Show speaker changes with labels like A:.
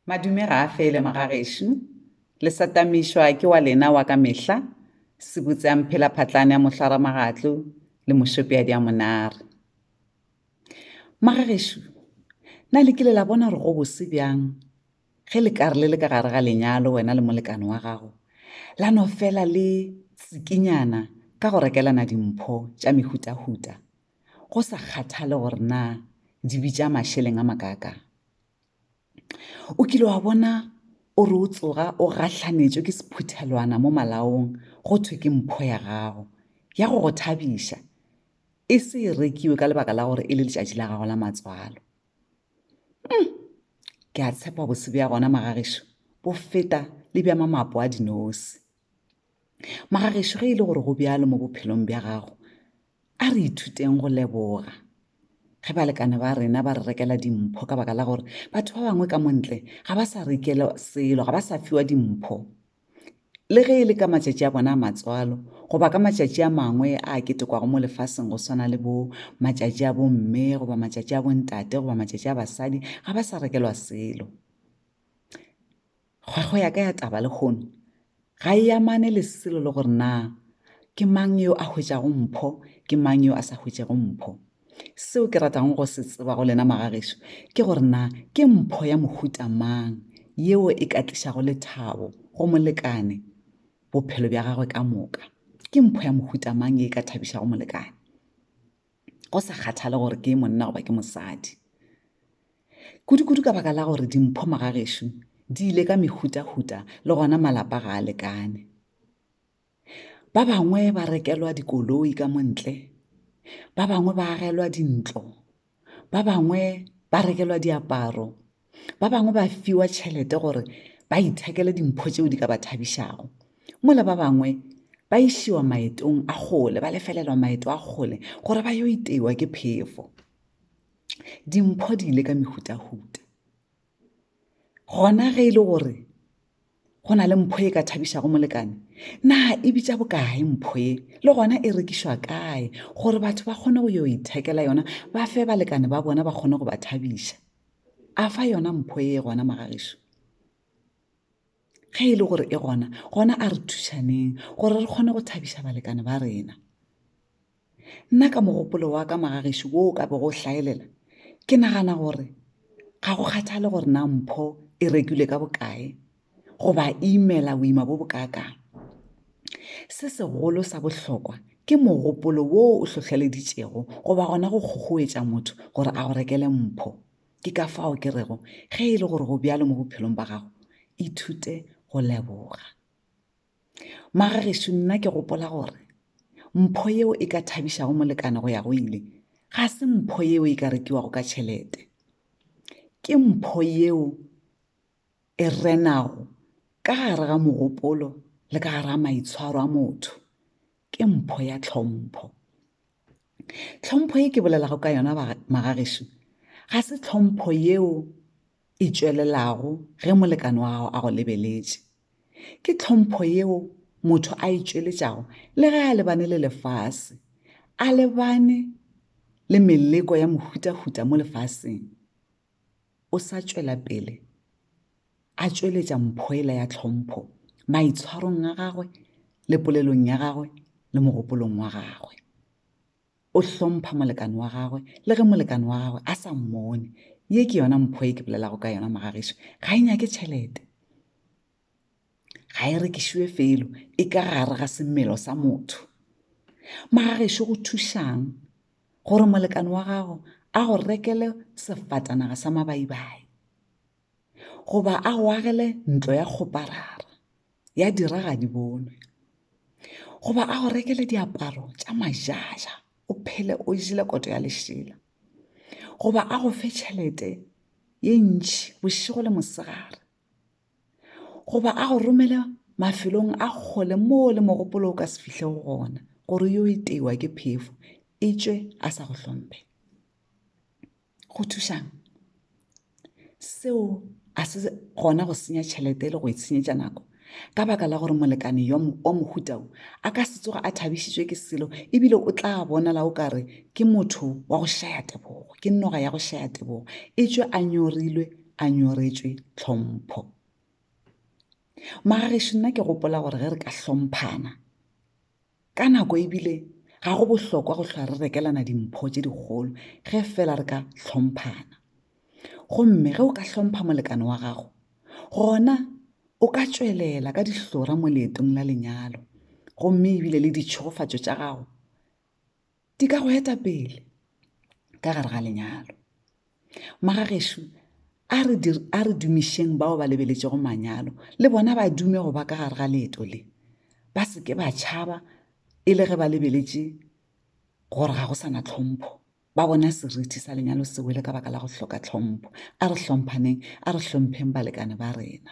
A: Madume ga a fele magagešu. Le satamišwa ke wa lena wa ka mehla, sebutse a mphela phatlane a mohlaramagatlo le mošopeadi a monare. Magagešu, na le kile la bona gore go bose bjang ge le ka re le le ka gare ga lenyalo wena le molekane wa gago la no fela le tsikinyana ka go rekelana dimpho tša mehutahuta go sa kgathale gore na di bitša mašeleng a makaakang o kile wa bona o re o tsoga o gahlanetšwe ke sephuthelwana mo malaong go thwe ke mpho ya gago ya go go thabiša e se e rekiwe ka lebaka la gore e le letšatši la gago la matswalo hmm, ke a tshepa bose bja gona magagešo bo feta le bja mamapo a dinosi Magagešo ge e le gore go bjalo mo bophelong bja gago, a re ithuteng go leboga. Ge balekane ba rena ba re rekela dimpho ka baka la gore batho ba bangwe ka montle ga ba sa rekela selo, ga ba sa fiwa dimpho, le ge e le ka matšatši a bona a matswalo goba ka matšatši a mangwe a ketekwago mo lefaseng go swana le bo matšatši a bomme goba matšatši a bontate goba matšatši a basadi ga ba sa rekelwa selo Kgwago ya ka ya taba lehono ga e amane le selo le gore na ke mang yo a hwetšago mpho, ke mang yo a sa hwetšego mpho. Seo ke ratago go se tseba go lena magagešo ke gore na ke mpho ya mohuta mang yeo e ka tlišago lethabo go molekane bophelo bja gagwe ka moka. Ke mpho ya mohuta mang ye e ka thabišago molekane? go sa kgathale gore ke monna goba ke mosadi kudu-kudu ka baka la gore dimpho magagešo di ile ka mehuta-huta le gona malapa ga a lekane ba bangwe ba rekelwa dikoloi ka montle ba bangwe ba agelwa dintlo ba bangwe ba rekelwa diaparo ba bangwe ba fiwa tšhelete gore ba ithekele dimpho tšeo di ka ba thabišago mola ba bangwe ba išiwa maetong a kgole ba lefelelwa maeto a kgole gore ba yo iteiwa ke phefo dimpho di ile ka mehutahuta gona ge e le gore go na le mpho e ka thabišago molekane na e bitša bokae mpho e le gona e rekišwa kae gore batho ba kgone go yo ithekela yona ba fe balekane ba bona ba kgone go ba thabiša a fa yona mpho e gona magagišo ge e le gore e gona gona a re thušaneng gore re kgone go thabiša balekane ba rena Nna ka mogopolo wa ka magagešo wo o ka bego o hlaelela, ke nagana gore ga go kgathale gore na mpho e rekilwe ka bokae goba e imela boima bo bokaakang. Se segolo sa bohlokwa ke mogopolo wo o hlohleleditšego goba gona go kgokgoetša motho gore a go rekele mpho. Ke ka fao ke rego ge e le gore go bjalo mo bophelong ba gago, ithute go leboga. Magagešu nna ke gopola gore mpho yeo e ka thabišago molekane go ya go ile ga se mpho yeo e ka rekiwago ka tšhelete. Ke mpho yeo e renago ka gare ga mogopolo le ka gare ga maitshwaro a motho. Ke mpho ya tlhompho. Tlhompho e ke bolelago ka yona Magagešu ga se tlhompho yeo e tšwelelago ge molekane wa gago a go lebeletše ke tlhompho yeo motho a e tšweletšago le ge a lebane le lefase a lebane le meleko ya mohutahuta mo lefaseng o sa tšwela pele a tšweletša mphoela ya tlhompho maitshwarong a gagwe le polelong ya gagwe le mogopolong wa gagwe O hlompha molekane wa gagwe le ge molekane wa gagwe a sa mmone. Ye ke yona mpho e ke bolelago ka yona mogagišo. Ga e nyake tšhelete. Ga e rekišiwe felo, e ka gare ga semelo sa motho. Mogagišo go thušang gore molekane wa gago a go rekele sefatanaga sa mabaibai? goba a go agele ntlo ya kgoparara ya dira ga di bonwe goba a go rekele diaparo tša majaja o phele o jele koto ya lešela goba a go fe tšhelete ye ntši bošego le mosegare goba a go romele mafelong a kgole moo le mogopolo o ka se fihle go gona gore yo e teiwa ke phefo e tšwe a sa go hlompe go thušang seo a se gona go senya tšhelete le go e senyetša nako ka baka la gore molekane yo wa mohutao a ka se tsoga a thabišitšwe ke selo ebile o tla bonala o kare ke motho wa go šaya tebogo ke noga ya go šaya tebogo e tšwe a nyorilwe a nyoretšwe tlhompho magagešu nna ke gopola gore ge re ka hlomphana Ka nako e bile ga go bohlokwa go hlwa re rekelana dimpho tše dikgolo ge fela re ka hlomphana. Gomme ge o ka hlompha molekane wa gago, gona o ka tšwelela ka dihlora mo leetong la lenyalo gomme ebile le ditšhegofatšo tša gago di ka go eta pele ka gare ga lenyalo magagešo a re a re dumišeng bao ba lebeletšego manyalo le bona ba dume go ba ka gare ga leeto le ba se ke ba tšhaba e le ge ba lebeletše gore ga go sana tlhompho ba bona seriti sa lenyalo se wele ka baka la go hloka tlhompho a re hlomphaneng a re hlompheng balekane ba rena